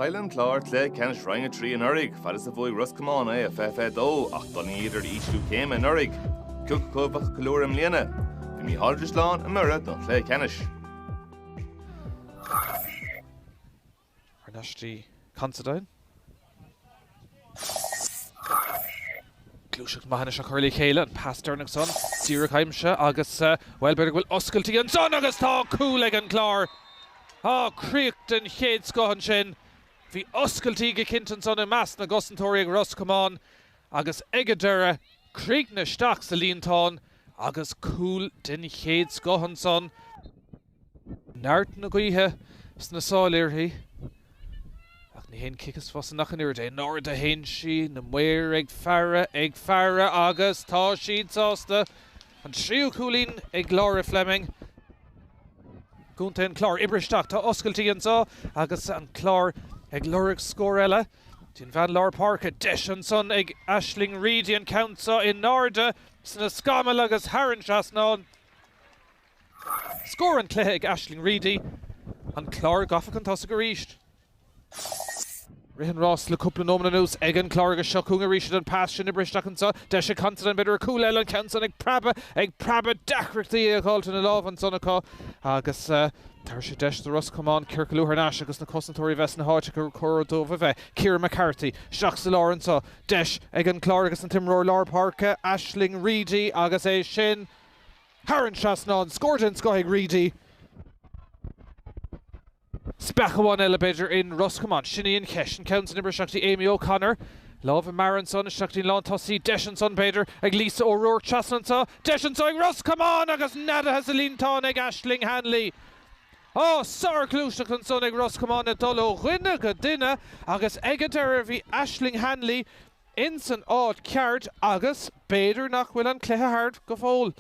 Chaill an Clár cluiche ceannais Roinn 3 anuraidh, fad is a bhuaigh Ros Comáin é i 2022, ach d'fhulaingíodar ísliú céime anuraidh. Cé acu a bheadh ag ceiliúradh i mbliana? Bhí Mícheál Ó Drisleáin i mBiorra don chluiche ceannais. Thar n-ais dtí Considine. Gluaiseacht maith anois á cur le chéile, an pas deireanach san, díreach aimsithe agus, bhuel, b'fhéidir go bhfuil oscailtí ansan agus tá cúl ag an gClár! Á, críoch den chéad scoth ansin. Bhí oscailtí go cinnte ansan i measc na gcosantóirí ag Ros Comáin agus ag an deireadh, críochnaithe isteach sa líontán agus cúl den chéad scoth ansan. neart na gaoithe sna sála uirthi, ach ní haon chic is fusa ach an oiread é. In airde a théann sí, na maoir ag faire, ag faire, agus tá siad sásta! An tríú cúilín ag Laura Fleming, Contae an Chláir, oibrithe isteach, tá oscailtí anseo agus an Clár ag lorg scór eile. Dtí an bhean lár páirce, deis ansan ag Aisling Reidy, an ceann seo in airde sna scamaill agus thar an trasnán. Scór an chluiche ag Aisling Reidy, An Clár gafa chun tosaigh arís. Rith an ráis le cúpla nóimead anuas ag An Clár agus seo chugainn arís iad an pas sin oibrithe isteach anseo, deis ag Considine, b'fhéidir ar chúl eile, an ceann san ag preabadh, ag preabadh, deacrachtaí é a fháilt ina lámh ansan acu agus tabharfaidh sé deis do Ros Comáin ciorcalú thar n-ais agus na cosantóirí a bheith sna háit gur chóir dóibh a bheith. Ciara McCarthy, isteach sa lár anseo, deis ag An Clár agus an t-imreoir lár páirce, Aisling Reidy agus é sin, thar an trasnán, scór den scoth ag Reidy. Speach amháin eile, b'fhéidir, i Ros Comáin. Sin í an cheist. An ceann san oibrithe isteach go dtí Amy O'Connor. Lámh i mbarra ansan, isteach go dtí an lán tosaí. Deis ansan, b'fhéidir, ag Lisa O'Rourke trasna anseo. Deis anseo ag Ros Comáin! Agus neadaithe sa líontán ag Aisling Hanley. Ó, sárghluaiseacht ansan ag Ros Comáin ag dul ó dhuine go duine agus ag an deireadh bhí Aisling Hanley ins an áit cheart agus b'fhéidir nach bhfuil an cluiche thart go fóill.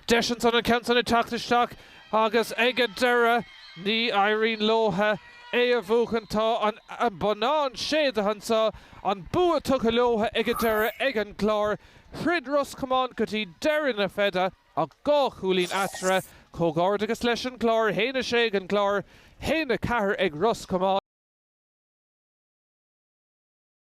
Deis ansan an ceann san a theacht isteach agus ag an deireadh ní éiríonn leotha é a bhuachan. Tá an bonnán séidte anso, an bua tugtha leotha ag an deireadh ag an gClár. Throid Ros Comáin go dtí deireadh na feide. Ach dhá chúilín eatarthu, comhghairdeachas leis an gClár, a haon a 6 ag an gClár, a haon a 4 ag Ros Comáin.